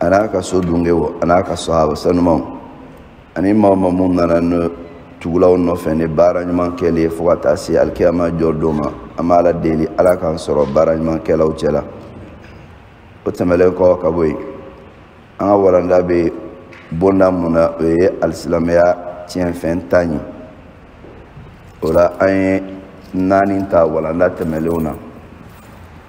a n'a ka so dungew a n'a ka sahaba sanumaw ani maa o maa mun nana ne tugula u nɔfɛ ni baara ɲuman kɛli ye fo ka taa se alikiyama jɔ don ma an b'ala deli ala k'an sɔrɔ baara ɲuman kɛlaw cɛla o tɛmɛlen kɔ ka bɔ yen an ka walanda bɛ bonda mun na o ye alisilamɛya tiɲɛfɛn tan ye o la an ye naani ta walanda tɛmɛnlenw na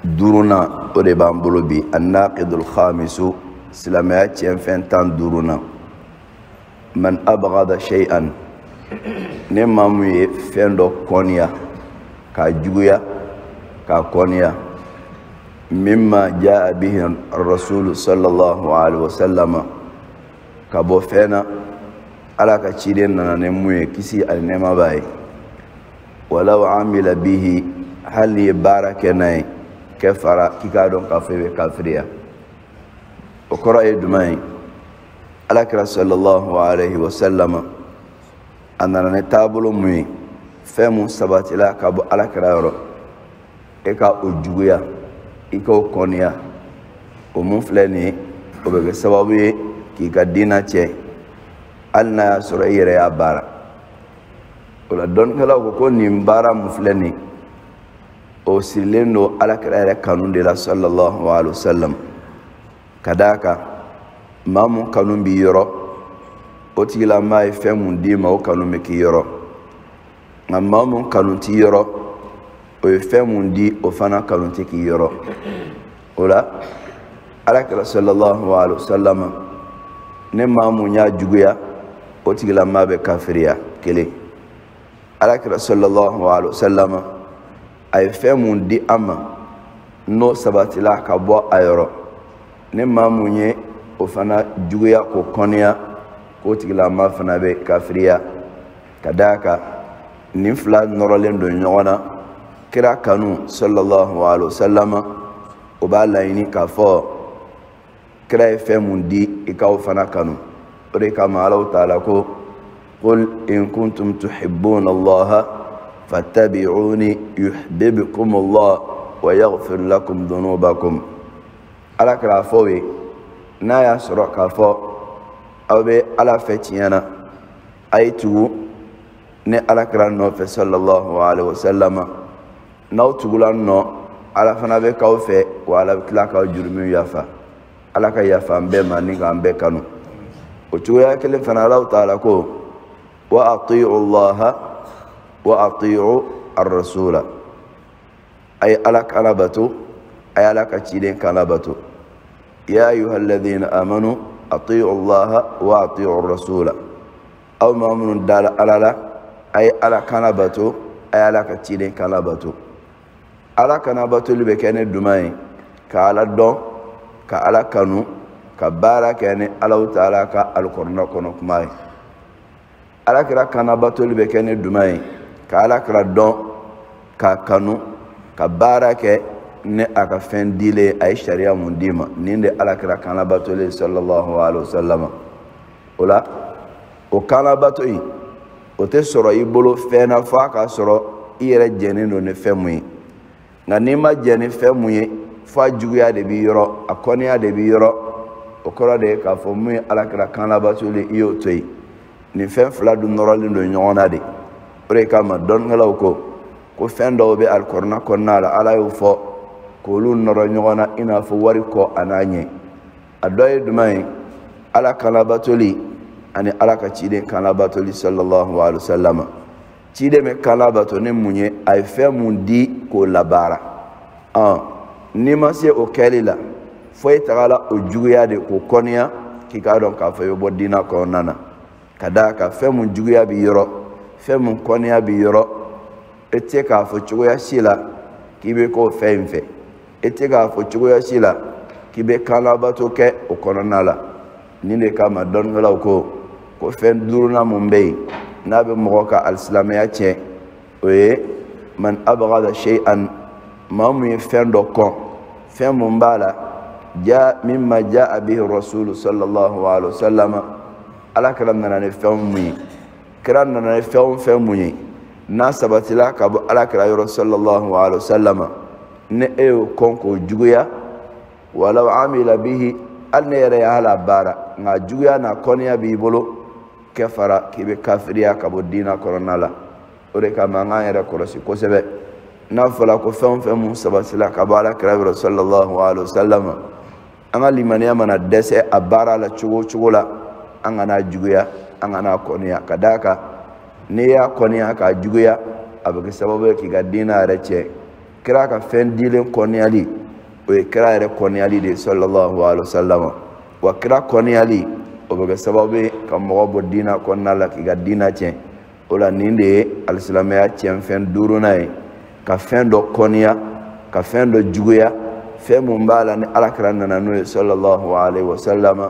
duurunan o de b'an bolo bi annaqidul khamisu silamɛya tiɲɛfɛn tan duurunan man abghada shay'an ni maa mun ye fɛn dɔ kɔniya k'a juguya k'a kɔniya mimma jaa bihi rasulu sallallahu alaihi wasallama ka bɔ fɛn na ala ka ciden nana ni mun ye kisi ani nɛɛma b'a ye walaw amila bihi hali n'i ye baara kɛ n'a ye kafara k'i k'a dɔn k'a fɔ i bɛ kafiriya o kɔrɔ ye jumɛn ye alakira sallallahu alaihi wasallama a nana ni taabolo mun ye fɛn mun sabatila ka bɔ alakira yɔrɔ e ka o juguya i k'o kɔniya o mun filɛ nin ye o bɛ kɛ sababu ye k'i ka diina tiɲɛ hali n'a y'a sɔrɔ i yɛrɛ y'a baara o la dɔnnikɛlaw ko ko nin baara mun filɛ nin o sirilen don alakira yɛrɛ kanu de la sallallahu alaihi wa sallam ka d'a kan maa mun kanu b'i yɔrɔ o tigilamaa ye fɛn mun d'i ma o kanu bɛ k'i yɔrɔ nka maa mun kanu t'i yɔrɔ o ye fɛn mun di o fana kanu tɛ k'i yɔrɔ o la alakira sallallahu alaihi wasallam ni maa mun y'a juguya o tigilamaa bɛ kafiriya kelen alakira sallallahu alaihi wasallam a ye fɛn mun di an ma n'o sabatila ka bɔ a yɔrɔ ni maa mun ye o fana juguya k'o kɔniya k'o tigilamaa fana bɛ kafiriya ka d'a kan nin fila nɔrɔlen don ɲɔgɔn na kira kanu sallallahu alaihi wasallama o b'a laɲini k'a fɔ kira ye fɛn mun di i k'o fana kanu o de kama alahu taala ko qul in kuntum tuhibbuna allaha fattabi'uni yuhbibkum allah wa yaghfir lakum dhunubakum alakira a fɔ u ye n'a y'a sɔrɔ k'a fɔ aw bɛ ala fɛ tiɲɛ na a ye tugu ne alakira nɔfɛ sallallahu alaihi wasallama n'aw tugula n nɔ ala fana bɛ k'aw fɛ wa ala bɛ tila k'aw jurumiw yafa ala ka yafa an bɛɛ ma ni k'an bɛɛ kanu o cogoya kelen fana alahu taala ko wa atiu llaha wa atiu arrasula a ye ala kan labato a ye ala ka ciden kan labato ya ayuha alladina amanu atiu allaha wa atiu rasula aw maa minnu dala ala la a ye ala kan labato a ye ala ka ciden kan labato ala kan labatoli bɛ kɛ ni jumɛn ye ka ala dɔn ka ala kanu ka baara kɛ ni allahu taala ka alikɔrɔna kɔnɔ kuma ye alakira kan labatoli bɛ kɛ ni jumɛn ye ka alakira dɔn k'a kanu ka baara kɛ ni a ka fɛn dilen a ye sariya mun d'i ma nin de alakira kan labatoli ye sallallahu alaihi wa sallam o la o kan labato in o tɛ sɔrɔ i bolo fɛn na f'a ka sɔrɔ i yɛrɛ jɛnnen don ni fɛn mun ye nka n'i ma jɛn ni fɛn mun ye fo a juguya de b'i yɔrɔ a kɔniya de b'i yɔrɔ o kɔrɔ de ye k'a fɔ mun ye alakira kan labatoli i y'o to yen nin fɛn fila dun nɔrɔlen don ɲɔgɔn na de o de kama dɔnnikɛlaw ko ko fɛn dɔw bɛ alikɔrɔna kɔnɔna la ala y'o fɔ k'olu nɔrɔ ɲɔgɔn na i n'a fɔ wari kɔ an'a ɲɛ a dɔ ye jumɛn ye ala kan labatoli ani ala ka ciden kan labatoli sallallahu alaihi wa sallam ciden bɛ kan labato ni mun ye a ye fɛn mun di k'o labaara ɔn n'i ma se o kɛli la fo i tagala o juguya de k'o kɔniya k'i k'a dɔn k'a fɔ i bɛ bɔ diinɛ kɔnɔna na ka d'a kan fɛn mun juguya b'i yɔrɔ fɛn mun kɔniya b'i yɔrɔ i tɛ se k'a fɔ cogoya si la k'i bɛ k'o fɛn in fɛ i tɛ se k'a fɔ cogoya si la k'i bɛ kan labato kɛ o kɔnɔna la nin de kama dɔnnikɛlaw ko ko fɛn duurunan mun bɛ yen n'a bɛ mɔgɔ ka alisilamɛya tiɲɛ o ye man abgada shay'an maa mun ye fɛn dɔ kɔn fɛn mun b'a la ja mimma jaa bihi rasulu sallallahu alaihi wa sallam ala kira nana ni fɛn mun ye kira nana ni fɛn o fɛn mun ye n'a sabatila ka bɔ ala kira yɔrɔ sallallahu alaihi wa sallam ni e y'o kɔn k'o juguya walaw amila bihi hali n'i yɛrɛ y'a labaara nk'a juguya n'a kɔniya b'i bolo kafara k'i bɛ kafiriya ka bɔ diina kɔnɔna la o de kama an k'an yɛrɛ kɔlɔsi kosɛbɛ n'a fɔra ko fɛn o fɛn mun sabatila ka bɔ ala kira yɔrɔ sallallahu alaihi wa sallam an ka limaniya mana dɛsɛ a baara la cogo o cogo la an kan'a juguya an kan'a kɔniya ka d'a kan n'i y'a kɔniya k'a juguya a bɛ kɛ sababu ye k'i ka diina yɛrɛ tiɲɛ kira ka fɛn dilen kɔniyali o ye kira yɛrɛ kɔniyali de ye sallallahu alaihi wa sallam wa kira kɔniyali o bɛ kɛ sababu ye ka mɔgɔ bɔ diina kɔnɔna la k'i ka diina tiɲɛ o la nin de ye alisilamɛya tiɲɛfɛn duurunan ye ka fɛn dɔ kɔniya ka fɛn dɔ juguya fɛn mun b'a la ni alakira nana n'o ye sallallahu alaihi wa sallam